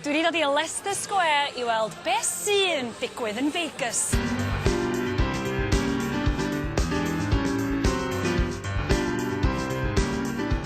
Dwi wedi dod i Leicester Square i weld be sy'n digwydd yn Vegas.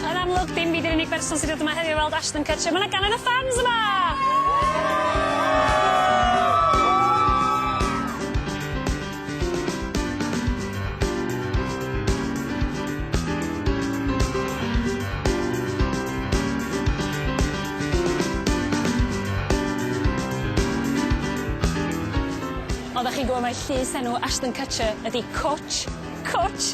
Yn amlwg, dim fi 'di'r unig berson sy'n dod yma heddiw i weld Ashton Kutcher, ma' 'na gannoedd o ffans yma! Woo! Oddach chi'n gwbo' mai llys enw Ashton Kutcher ydi Cwtsh, Cwtsh!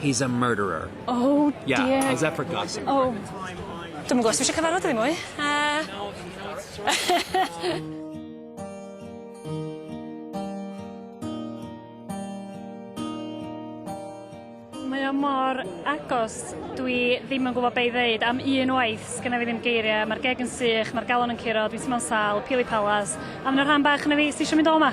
He's a murderer. Oh dear. Yeah, how's that for gossip? Oh. Dwi'm yn gwybod os dwi eisiau cyfarfod ddim mwy. Uh... mae o mor agos, dwi ddim yn gwybod be i ddeud am un waith, sgynna fi ddim geiriau, mae'r geg yn sych, mae'r galon yn curo, dwi'n teimlo'n sal, pili palas, a mae'n rhan bach yna fi, sy'n eisiau mynd o yma?